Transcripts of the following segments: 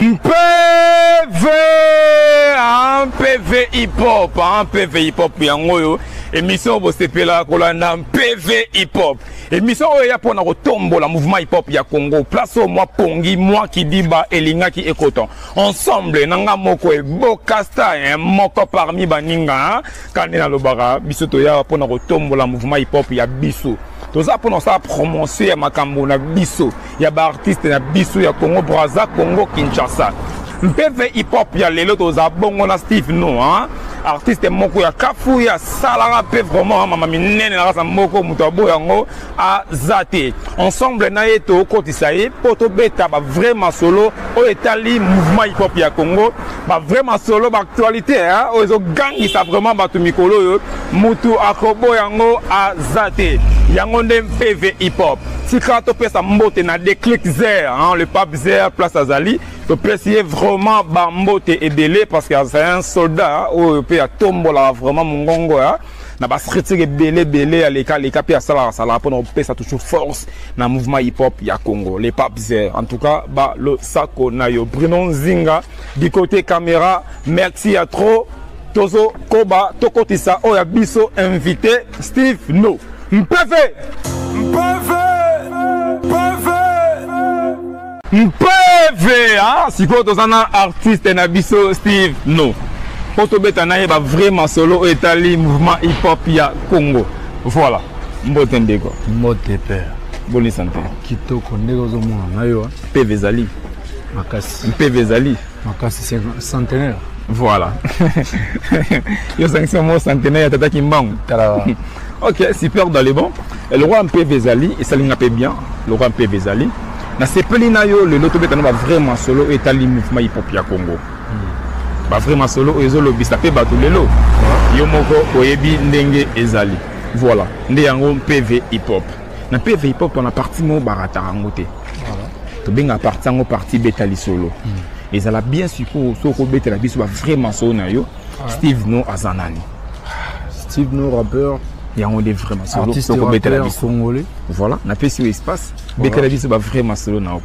mpv ah, mpv hiphop ah, mpv hiphop yango oyo emission bosepelaka kolanda mpv hiphop emission oyo eya mpona kotombola mouvement hiphop ya congo place oyo mwa pongi mwa kidiba elingaki ekota ensemble na nga moko ebokasta eh, moko parmi baninga kande nalobaka biso toya mpona kotombola mouvement hiphop ya biso toza mpona kosala promotion ya makambo na biso ya ba artiste na biso ya Congo Brazza, Congo Kinshasa. Mpeve hip hop ya lelo toza bongo na Steve no hein? artiste moko ya kafu ya salaka mpe vraiment mama minene na kasa moko moto abo yango aza te ensemble na ye tokotisa ye mpo tobeta bavrai masolo oyo etali mouvement hip-hop ya congo bavrai masolo baactualité oyo ezogangisa vraiment bato mikolo oyo moto akobo yango aza te yango nde mpeve hip-hop tika topesa mbote na declic zer hein, le pape zer place azali topesi ye vraiment bambote ebele parce que azali un soldat oyo mpe atombolaka vraiment mongongo ya na baskritique ebele ebele aleka aleka mpe asalaka asalaka mpona kopesa toujours force na mouvement hip hop ya congo le pape zer en tout cas balosako na yo bruno nzinga du côté caméra merci ya trop Tozo koba tokotisa oyo ya biso invité Steve No. Mpeve. Mpeve. Mpeve. Mpeve. Ah, sikoyo toza na artiste na biso Steve No. Po tobeta na ye ba vrai masolo oyo etali mouvement hip hop ya Congo. Voilà. Mbote ndeko. Mbote père. Boni santé. Kitoko ndeko ozomona na yo. Mpeve ezali. Makasi. Mpeve ezali. makasi centenaire voilà yo ozangisi mwa centenaire ya tata kimbangu tala ok super dans le bon eloko mpeve ezali esali nga mpe bien eloko mpeve ezali nasepeli na yo lelo tobeta na bavrai masolo oyo etali mouvement hip-hop ya congo hmm. bavrai masolo oyo ezolobisa mpe bato lelo yo moko oyebi ndenge ezali voilà nde yango mpeve hip-hop na mpe eveille pokua na parti moko barataka yango te tobengaka parti yango parti beta lisolo hmm. ezala bien sikoyo soki okobetela biso bavrai masolo na yo steve no aza nani steve no rappeur yango nde vrai masolo tokobetela biso voilà napesi yo espace betela biso bavrai masolo na yo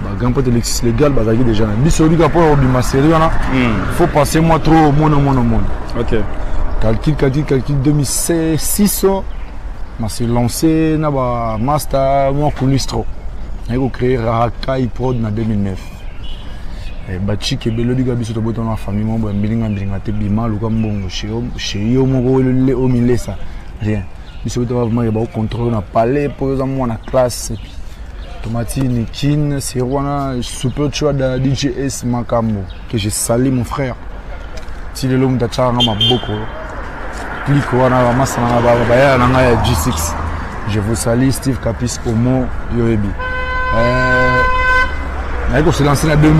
ba grand pote lexis legal bazalaki déjà na biso oyebi kaka mpo ya kobima serie wana hmm. faut passer moi trop omona omona omona ok calcul calcul calcul 2006 na se lancé na ba master mwa coulisse trop naye kocréer rahakai prod na 2009 eh, bachik ebele oyebi kaka biso tobotana na famille moko boya mbilinga mbilinga te bima luka mbongo chez yo moko omilesa rien biso bitaba vraiment ba contrôler na palais po yoza mwana classe et puis tomati nikin c'est wana super choix da DJS makambo que je salue mon frère ti lelo mutu atyaka nga maboko clique wana bamasa na nga bayala na ngai ya g6 je vous salie steve capis omo yoyebi euh, naye koselanse na 2012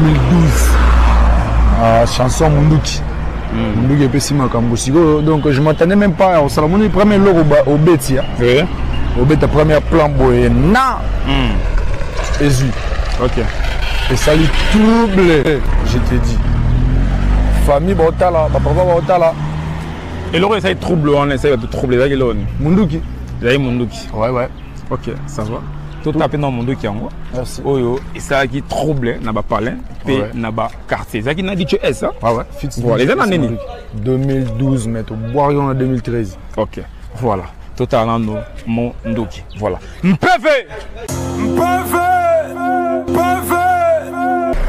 ah, chanson munduki munduki epesi makambo sikoyo donc je m'attendais même pas osala moni premier eloko obeti ya obeta première plan boye na hmm. ezwi ok esali trouble je te dis famille baotala bapapa baotala eloko esali trouble wana esali bato trouble ezalaki eloko nini munduki ezalaki munduki ouais ouais ok ça va totape na munduki yango oyo esalaki trouble na bapalin mpe na ba quartier ezalaki na dicho s hein? ah ouais, fixe voilà eza na nini 2012 mais tobwaki yango na 2013 ok voilà totala nano mo ndoki voilà mpeve mpeve mpeve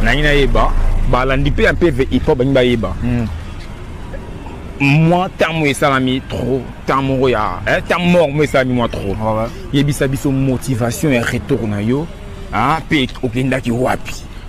nangi nayeba balandi mpe ya mpeve ipo bangi bayeba mm. mwa ntango esalami trop ntango moko ya ntango eh, moko mo esalami mwa trop ah yebisa biso motivation ya retour na yo mpe ah, okendaki wapi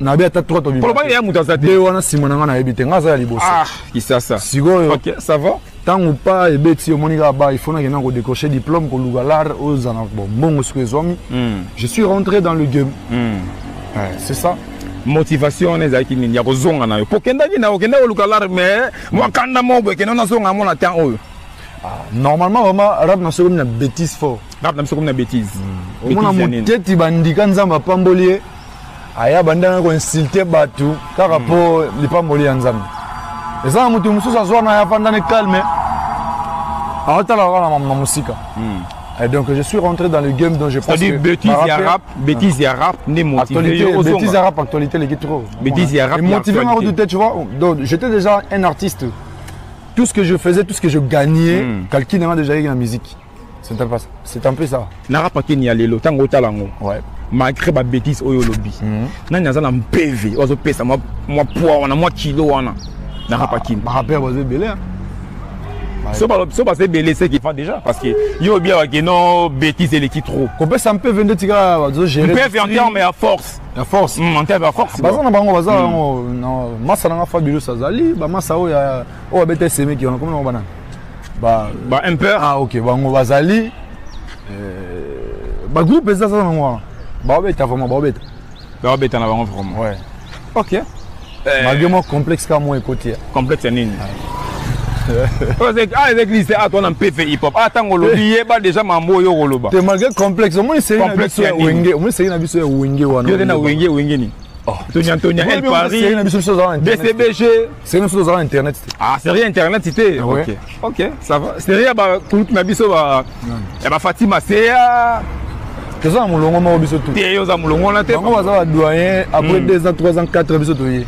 nayebi ata trois to koloba ya moto aza te wana nsima na ngai nayebi te ngai aza ya liboso ah, kisasa sikoyo ntango pa ebeti omoni kaka ba ifo nakenda kodecroche diplôme koluka lare oyo ozana mbongo siko ezwami hmm. je suis rentré dans le game hmm. c'est ça motivation wana ezalaki nini ya kozonga na yo mpo okendaki na okenda koluka lare mais mwakanda moko boye kenda nazonga yango na temps oyo ah, normalement vraiment rap na sokomi na bétise fort rap na biso komi na bétise omona moteti bandika nzambe apamboli ye aya banda na koinsulte bato kaka mpo hmm. lipamboli ya nzambe eza na moto mosusu azwa na ye afanda ne calme aotala kaka na mosika hmm. Et donc je suis rentré dans le game dont je pense que bêtise ya rap, bêtise ya rap n'est motivé. Bêtise ya rap actualité les trop. Bêtise ya rap. Motivé ma douter tu vois. Donc j'étais déjà un artiste. Tout ce que je faisais, tout ce que je gagnais, hmm. calcul déjà dans la musique. c'est un peu ça na rap akeni ya lelo ntango otala yango ouais. malgré babétise oyo olobi mm -hmm. nani aza na mpeve oyo azopesa mwa poids wana mwa kilo wana na rap akeni baraper baza ebele so baza ebele seki fa déjà parce que yo obi awa ke non bétise eleki trop kopesa mpeve nde tika bazogérmpeve en terme ya force ya force mm, en terme ya force baza na bango baza yango mm. masa nanga fabilus azali bamasa oyo oyo abeta semeki wana komona bana ba ba impeur ah ok bango bazali euh, ba groupe eza za nango wana baobeta vraiment baobeta baobeta na bango vraiment ouais ok eh. malgré moi complexe ka moi ekoti ya complexe ya nini ah ezaki lise ato wana mpe fe hiphop ah ntango olobi yeba déjà mambo oyo okoloba te malgré complexe omoni seri na biso ya wenge omoni seri na biso ya wenge wana yo te na wenge wenge nini oh. tonia tonia el paris bcbg C'est nous tous internet. Ah, c'est rien internet c'était. Ah OK. OK, ça va. C'est rien ba kulut na biso ba ya ba Fatima Seya. toza na molongo moko biso tu te oza molongo wana te bango baza ba doyen après 2 hmm. ans 3 ans 4 biso toye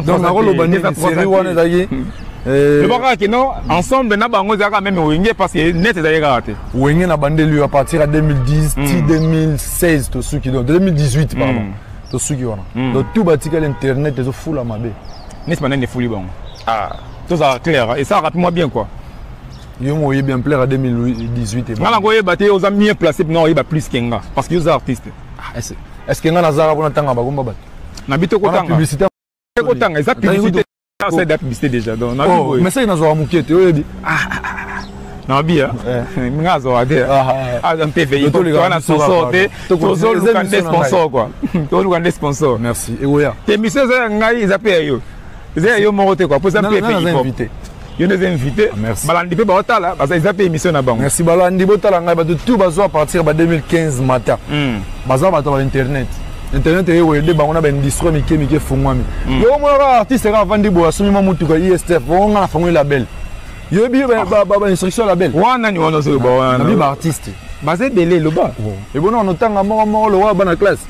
donc nakoloba nini série wana ezalaki hmm. eh, loba kaka kino ensemble na bango ezalaka meme wenge parce que net ezalaki kaka te wenge na bandeli yo à partir ya 2010 ti 2016 tosuki donc 2018 pardon tosuki wana hmm. donc tout batikali internet ezofula mabe neti banani efuli bango ah. tozala claire hein. esalaka mpe mwa bien quoi yo mo oyebi ampleur ya 2018 nga nango oyeba te oza mieux placé mpena oyeba plus ke nga parce que yo oza artiste ah, est ce que nga nazalaka mpona ntanga bagomba bato na bito kotanga publicité kotanga eza publicité asali da publicité déjà donc na oh, mais ça nazwa mukie te oyebi ah, ah, ah, na mabi a nga azwa te aza mpe veille wana sponsor te tozoluka nde sponsor quoi tozoluka nde sponsor merci ewoya te mission eza ya ngai eza mpe ya yo eza ya yo moko te quoi mpo eza mpe veille yo nde eza invité balandi mpe baotala eza mpe émission na bango merci balandi botala ngai bato tout bazwa à partir ba 2015 mata hmm. baza bato ba internet internet eye wede bango na baindustrie mike mike efungwami mm. yo omona kaka artiste kaka avandi boye asombi mwa motuka istf bongo nga na fangoli label yoyebi bainstruction ya label wana nani wana ozoloba wana nabi baartiste baza ebele loba ebona wana otanga moko moko lokola bana classe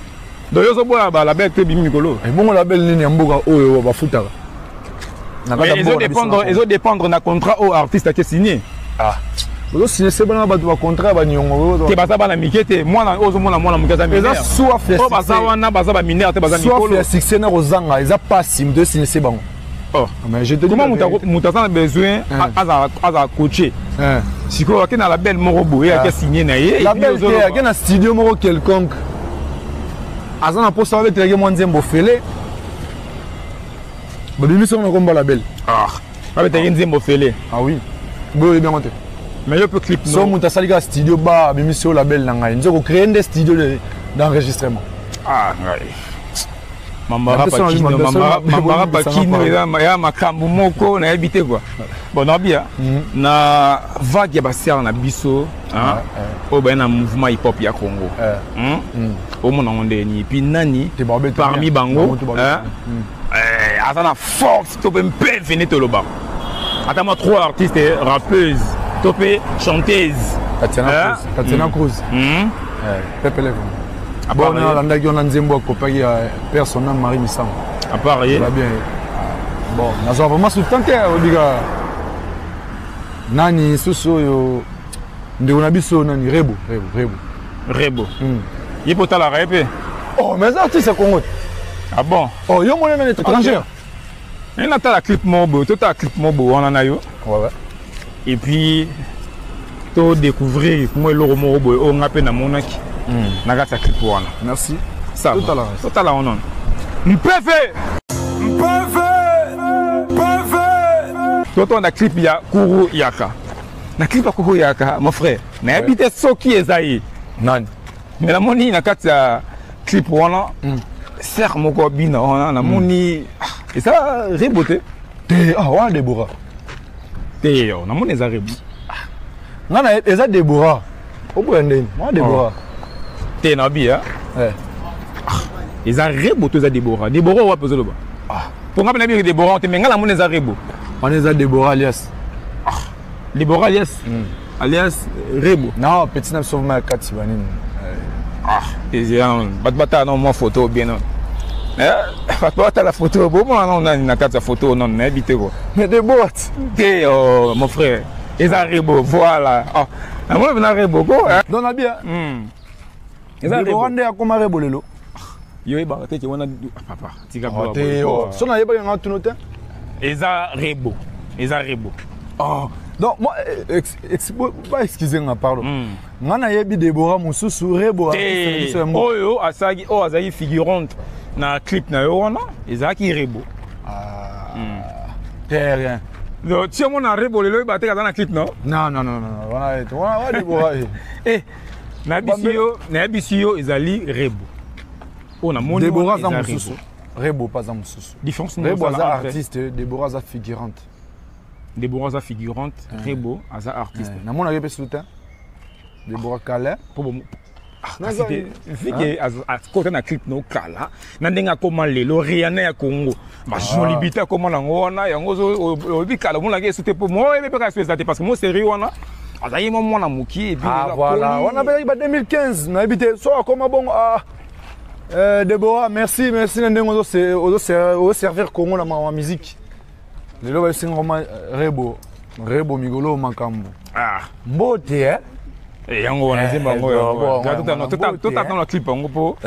donc yo ozoboya balabel te ebimi mikolo ebongo label nini ya mboka oyo bafutaka Mais ezo dépendre ezo dépendre na contrat au artiste ake signé. Ah. Ozo signé se bana bato ba contrat ba nyongo. Te baza bana mike te mwana ozo mona mwana muke aza mineur. Eza soif ya. Oh baza wana baza ba mineur te baza mikolo. Soif ya succès na kozanga eza pasi mdo signé se bango. Oh. Ah, mais je te Comment mutu aza na besoin ah. aza aza coaché. Ah. Sikoyo ake na label moko boye ake signé na ye. Label te ake na studio moko quelconque. Aza na posa abetelaki mwa nzembo fele. babimisi yango na kombo label ah. abetaki nzembo fele ah oui boye oyebi yango te mais yo mpe clip so moto asali kaka studio ba abimisi yo label na ngai nzoko créer nde studio d'enregistrement ah ngai mambara pakino ya makambo moko nayebi te kua bon nabia mhm. na vague ya basiare na biso oyo baye na mouvement hip hop ya congo eh. hmm? hmm. omona yango ndenge nini puis nani parmi bango hmm. eh, aza na force to mpe mpe vene tolobaka ata mwa trois artiste eh, rappeuse to mpe chanteuse tatiana eh? cruz hmm. hmm. pepeleko bon alandaki wana nzembo akopaki ya père son ame marie misango apart ye bien bon nazwa vraiment soutan te obika nani susu oyo ndeko na biso nani rebo rebo rebo rebo hmm. ye mpe otalaka ye mpe oh mais aza artiste ya congo te ah bon oh yo mona nani étrangère ye natala clip moko boye totala clip moko boye wana na yo et puis to découvrir mwa eloko moko boye oyo nga mpe namonaki hmm. na kati ya clip wana merci totala wana mpefe mpefe mpefe totonda clip ya kuru yaka na clip akoyaka mon frère nayebi te soki eza ye nani mais namoni na kati ya clip wana hmm. ser moko abina wana namoni hmm. ah, eza rebo te te ah, wana debora te yo namoni eza rebo ah. nga na eza debora oboya ndeni mwa debora te na bi eza rebo to eza debora debora wapi ozoloba mpo ngai mpe nabi debora te me ngai namona eza rebo wana eza debora alias debora alias hmm. alias rebo na petit na biso vraimen akati banini bato batala na mwa foto bien eh, bato batala foto bomona nano nani na kati ya foto nano nayebi te ko mais debora te oh, mon frère eza rebo voilà oh. namona pena rebo ko eh. don na bia hmm. eza rebo nde akoma rebo lelo yo yebaka te ke wana ah, papa tika ah, te oh. so nayebaki yanga tuno te eza rebo eza rebo oh. donc moi eh, ex, ex, ba excuse nga pardon mm. nga nayebi debora mosusu rebo oyo asalaki oyo azalaki figurante na clip na yo wana ezalaki rebo ah, hmm. terrain ti omona rebo lelo oyeba teke aza na clip no eh, nayebisi yo nayebisi yo ezali rebo oyo namoni debora aza mosusu rebo mpe aza mosusu rebo aza artiste debora aza figurante Deborah aza figurante, ah. Rebo aza artiste. Ah. Na mona yo pe souta. Deborah Kala po bo ah, kasi te vike akota na clip no kala na ndenge akoma lelo riana ya congo bajoli bite akoma nango wana yango oyebi kala omonaka esu te po moyebi mpe kasi eza te parce que mo serie wana azalaki mwa mwana mokie wana mpe ba 2015 nayebi te so akoma bongo eh, debora merci merci na ndenge ozoservir congo na mawa miziki lelo bayosenga koma rebo rebo migolo makambo ah. mbote eh? Eh, yango wana nzembo eh, yango totatana eh. clip yango mpo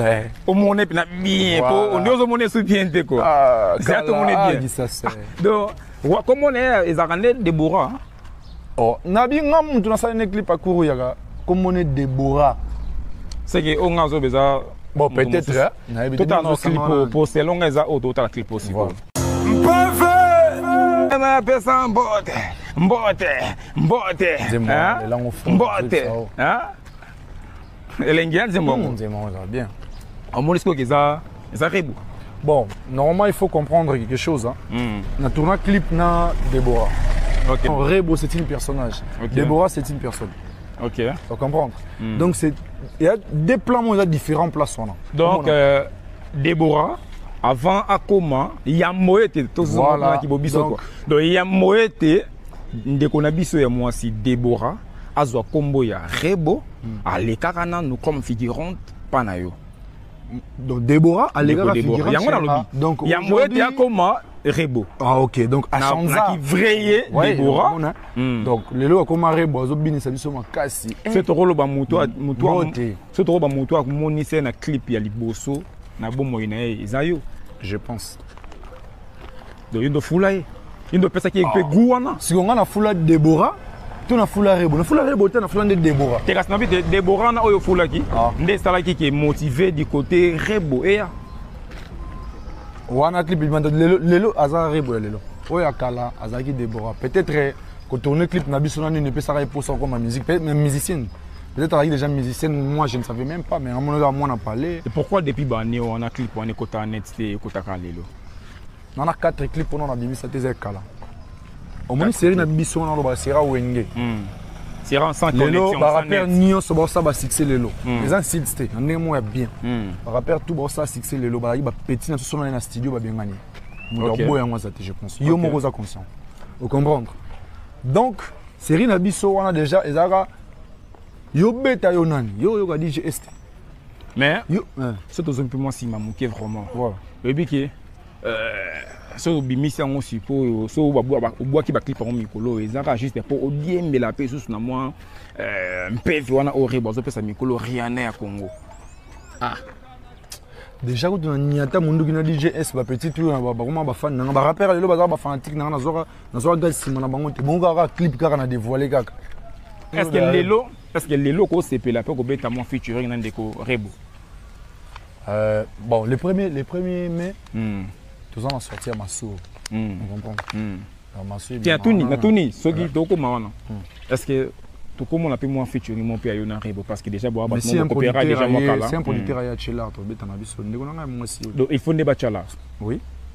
omona mpena bien mpo ondi ozomona esu bien te ko zela tomona bien donc komona ye ezalaka nde debora oh nabi nga mutu nasali ne clip akuru yaka kombo ne debora seke oyo nga azoba eza bon peut-être totala no clip oyo po selon nga eza oyo totala clip oyo sikoyo mpeve napesa mbote mbote mbote mbote elengi ya nzembo yango hmm, nzembo yango eza bien omoni sikoyo eza eza rebu bon normalement il faut comprendre quelque chose hein. mm. na tourna clip na Deborah okay. non, Rebo c'est une personnage okay. Deborah c'est une personne ok faut comprendre mm. donc c'est il y a des plans on a différents places on a donc euh, Deborah avant akoma ya moyete tozonga voilà. ki bobiso donc ya moyete ndeko na biso ya mwasi Deborah azwa kombo ya rebo hmm. alekaka nanu comme figurante pa na yo donc Déborah alekaka figurante yango nalobi ah, donc yango ete akoma rebo ah ok donc asanzaki vrai ye Déborah hein. hmm. donc lelo akoma rebo azobinisa biso makasi eh. se tokoloba moto moto se tokoloba moto amonisa ye na clip ya liboso na bomoi na ye eza yo je pense donc indo fula ye indo pesaki ye pe goût wana siko nga na fula Deborah to na fula rebo na fula rebo te na fula nde debora te kasi nabi te debora wana oyo ofulaki ah. nde esalaki ke motive du côté rebo eya wana clip libanda lelo, lelo aza rebo ya lelo oyo ya kala azalaki debora peut-être eh, kotourne clip na biso na nini epesaka ye mposa okoma musique peut-être même musicienne peut-être azalaki déjà musicienne moi je ne savais même pas mais amonaka mwana palais et pourquoi depuis bane wana clip wana ekota net te ekotaka lelo na na 4 clip wana nabimisa te eza ekala omoni série na biso wana olobaka sera wenge hmm. lelo barapere nyonso baosala basuccès lelo hmm. eza nsids te na ndenge moko ya bien hmm. barapere tout baosala succès lelo bazalaki bapeti na soso na ye na studio babengani moto aboya yango aza te je pense yo moko oza conscient ocomprendre donc série na biso wana déjà ezalaka yobeta yo nani yo oyoka djs te mais soki tozongi mpe mwa nsima moke vraiment oyebi ke euh, soki obimisi yango sikoyo soki obwaki baclip yango mikolo oyo eza kaka juste mpo odiembela mpe lisusu na mwa euh, mpevi wana oyo rebo azopesa mikolo riana ya congo ah déjà kutu na niata monduki na djs bapetit oyo na bakoma bafani nanga barapere lelo bazaka bafanatique nanga nazwaka nsima na bango te bongo kaka clip kaka na dévoile kaka eske lelo Est ce que lelo okosepela mpe kobeta mwa featuring na ndeko Rebo euh, Bon, le premier, le premier mai, mm. toza na sorti ya Masuru. Mm. Vous comprenez mm. Natuni, natuni, soki tokoma wana. Hmm. Est ce que tokomona mpe mwa featuring mo mpe ya yo na rebo parce que déjà boya bato mokopera déjà mwa kala c'est un producteur hmm. ya chelard tobeta na biso ndeko na ngai mwasi donc il faut nde bachala oui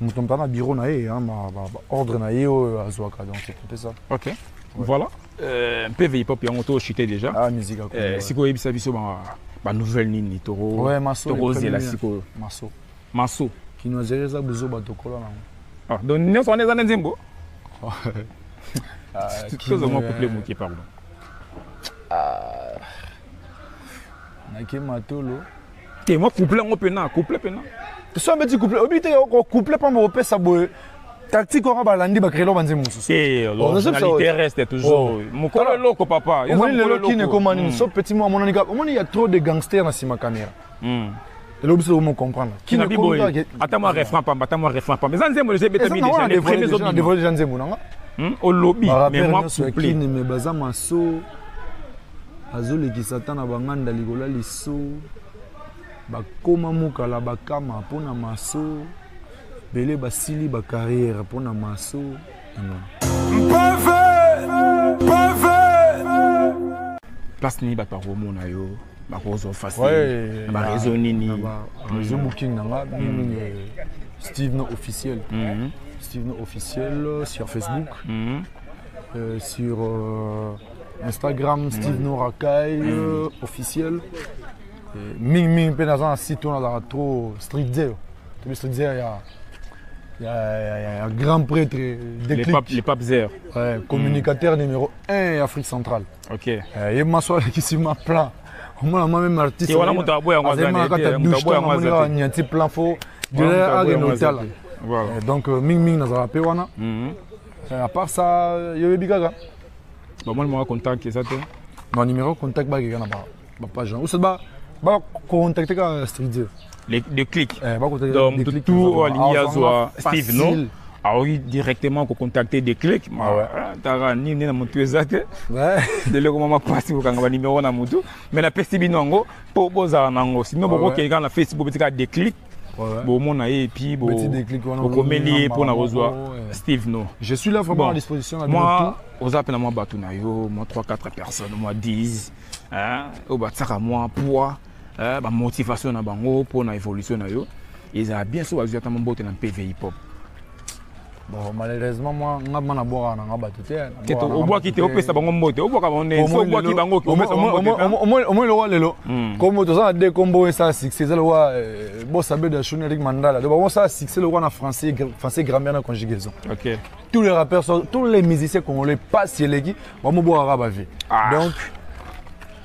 moto mpe na biro na ye ordre na ye oyo azwaka donc mpe ça ok voilà euh, mpe veipop yango to chute déjà ah, musique euh, sikoyo oyebisa biso banouvelle nini tokozela sikoyo maso maso kinoisere eza buzoba tokola nango ah, donc nyonso wana eza na nzembo ah, tozomwa couple moke pardon nake matolo te mwa couple yango mpena couple mpena so abeti couple oyebi te couple mpamba opesa boye tactique wana balandi bakrelo banze mosusu eh, oh, reste toujours oh. mokolo eloko papa omoni lelo kini ekoma nini hmm. so petit mo amonani kaka omoni ya trop de gangster na nsima kamera hmm. elobi soki omocomprendre ata mwa refrain pamba ata mwa refrain pamba eza nzembo deja ebetami deja nzembo nanga hmm? olobi mais mwa couple mais baza maso azolekisa ata na banganda likolo ya liso bakoma mokala bakama mpo na maso bele basili bacarrière mpo na maso place nini bato bakomona yo bakozwa facile na bareseau nini réseau mm. booking na nga mingimingi mm. euh, steve no officiel mm-hmm. steve no officiel euh, sur facebook mm-hmm. euh, sur instagram steve norakai mm. euh, officiel mingimingi mpe naza na site oyo nazalaka trop streetzer tobi streetzer ya ya grand prêtre le pape zer mm. communicateur numéro 1 ya afrique centrale ye maso alekisi ma plan omona mwa meme artiste azali maka kata douche to namoni kaka niati plan fo dela akende otala donc mingimingi nazalaka mpe wana Euh, à part ça, yo yebi kaka. Ba moi numéro contact eza te. Non numéro contact ba kaka na ba ba page. Ou ça ba ba contacter ka studio. Les de clic. Eh ba contacter. Donc tout tout aligné à soi Steve non. aoki directement kocontacte declic ah taka nini nde na motu eza te leleko mwa mapasi kokanga banimero na motu mai napesi bino yango mpo bozala na yango sino ah bokokei kaka na facebook beti kaka declic bomona ye epuis bokomeli ye mpo na kozwa steve no je suis là vraiment bon, à disposition na mwa oza mpe na mwa bato na yo mwa 3 4 personnes mwa 10 oyo batisaka mwa poids bamotivation na bango mpo na évolution na yo ezala bien so bazwi ata mambote na mpv hip hop Bon, malheureusement, moi, nga bana bora na nga batu te. Keto obwaki te opesa bango mbote, obwaka bango ne, so obwaki bango opesa bango mbote. Omo lo lelo. Kombo to za de kombo esa succès za lo euh, bo sabe de Shuni Eric Mandala. Donc bon ça succès lo na français français grammaire na conjugaison. OK. Tous les rappeurs sont tous les musiciens congolais pas si eleki, bon mo bora ba vie. Ah. Donc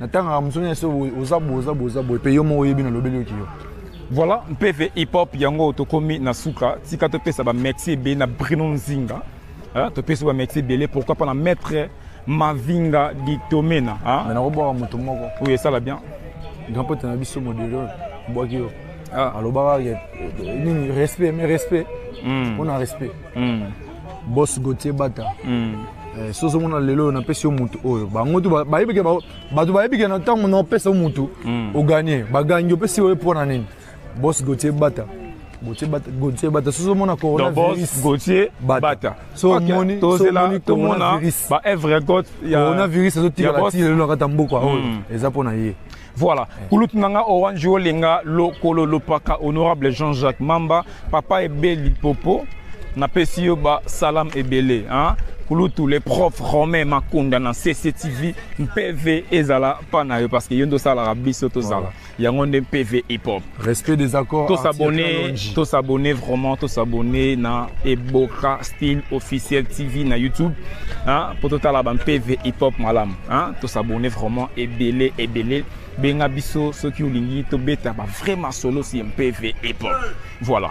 natangaka mosu nyonso oza boye oza boye oza boye mpe yo moko oyebi nalobeli yoki yo voilà mpeve hip hop yango tokomi na suka tika topesa bamexi ebele na brino nzinga topesi bamexi ebele pourquoi pas na maître mavinga ditomena mais nakobwaka moto moko oyo esala bien grand pote na biso modelo bwaki yo ah. alobaka nini respect mais respect mpo hmm. na respect hmm. boss gautier bata mm. eh, soso mona lelo oyo napesi yo motu oyo bango tu bayebike bato bayebike na ntango na opesa yo motu mm. oganie bagangi opesi yo mpo na nini boss gautier bata gautier bata soso omona coronavirusgautier bata so omoni coronavirus baevre cote ya coronavirus azotikala ti lelo na kati ya mboka oyo eza mpo na ye Voilà. Kulutu nanga orange olenga lokolo lopaka honorable Jean-Jacques Mamba papa ebeli popo na pesi yo ba salam ebele hein kulutu le prof romain makunda na cctv mpv ezala mpa na yo parce que yo nde osalaka biso tozala yango nde mpv hip hop Respect des accords. Tous abonnés, tous abonnés vraiment, tous abonnés na Eboka Style Officiel TV na YouTube. Hein, pour tout à la PV Hip Hop Malam. Hein, tous abonnés vraiment et belé et belé. Benga biso ceux qui ont lingi to beta ba vraiment solo si MPV Hip Hop. Voilà.